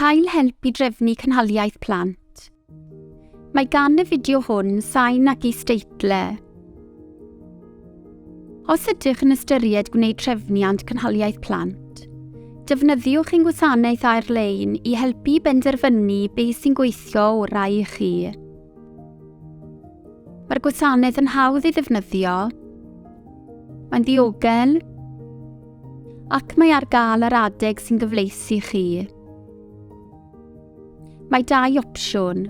Cael help i drefnu cynhaliaeth plant. Mae gan y fideo hwn sain ac is-deitlau. Os ydych yn ystyried gwneud trefniant cynhaliaeth plant, defnyddiwch ein gwasanaeth ar-lein i helpu i benderfynu beth sy'n gweithio orau i chi. Mae'r gwasanaeth yn hawdd ei ddefnyddio, mae'n ddiogel, Ac mae ar gael yr adeg sy'n gyfleus i chi. Mae dau opsiwn.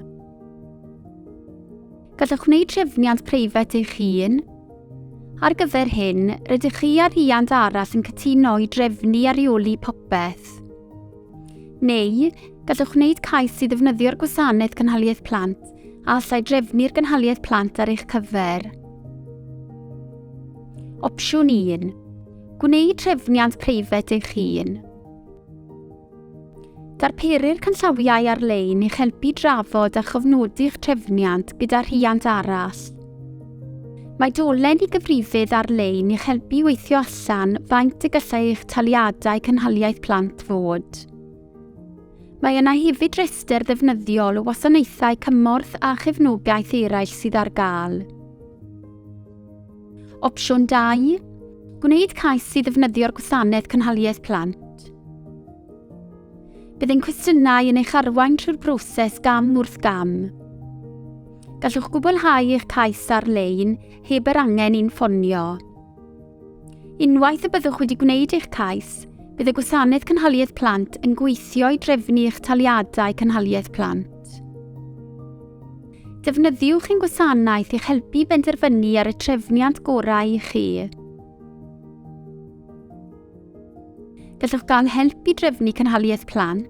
Gallwch wneud trefniant preifat eich hun. Ar gyfer hyn, rydych chi a rhiant arall yn cytuno i drefnu a rheoli popeth. Neu, gallwch wneud cais i ddefnyddio'r gwasanaeth cynhaliaeth plant a allai drefnu'r gynhaliaeth plant ar eich cyfer. Opsiwn 1. Gwneud trefniant preifat eich hun. Darperir canllawiau ar-lein i'ch helpu drafod a chofnodi'ch trefniant gyda rhiant arall. Mae dolen i gyfrifydd ar-lein i'ch helpu i weithio allan faint y gallai eich taliadau cynhaliaeth plant fod. Mae yna hefyd restr ddefnyddiol o wasanaethau cymorth a chefnogaeth eraill sydd ar gael. Opsiwn 2. Gwneud cais i ddefnyddio'r gwasanaeth cynhaliaeth plant. Bydd ein cwestiynau yn eich arwain trwy'r broses gam wrth gam. Gallwch gwblhau eich cais ar-lein heb yr angen i'n ffonio. Unwaith y byddwch wedi gwneud eich cais, bydd y Gwasanaeth Cynhaliaeth Plant yn gweithio i drefnu eich taliadau cynhaliaeth plant. Defnyddiwch ein gwasanaeth i'ch helpu i benderfynu ar y trefniant gorau i chi. Gallwch gael help i drefnu cynhaliaeth plant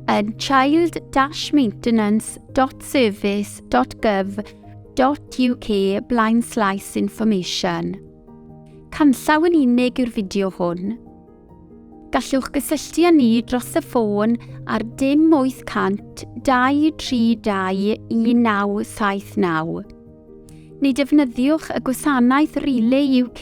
yn child-maintenance.service.gov.uk blaen slaes information. Canllaw yn unig yw'r fideo hwn. Gallwch gysylltu â ni dros y ffôn ar dim 800 232 1979. Neu defnyddiwch y gwasanaeth Relay UK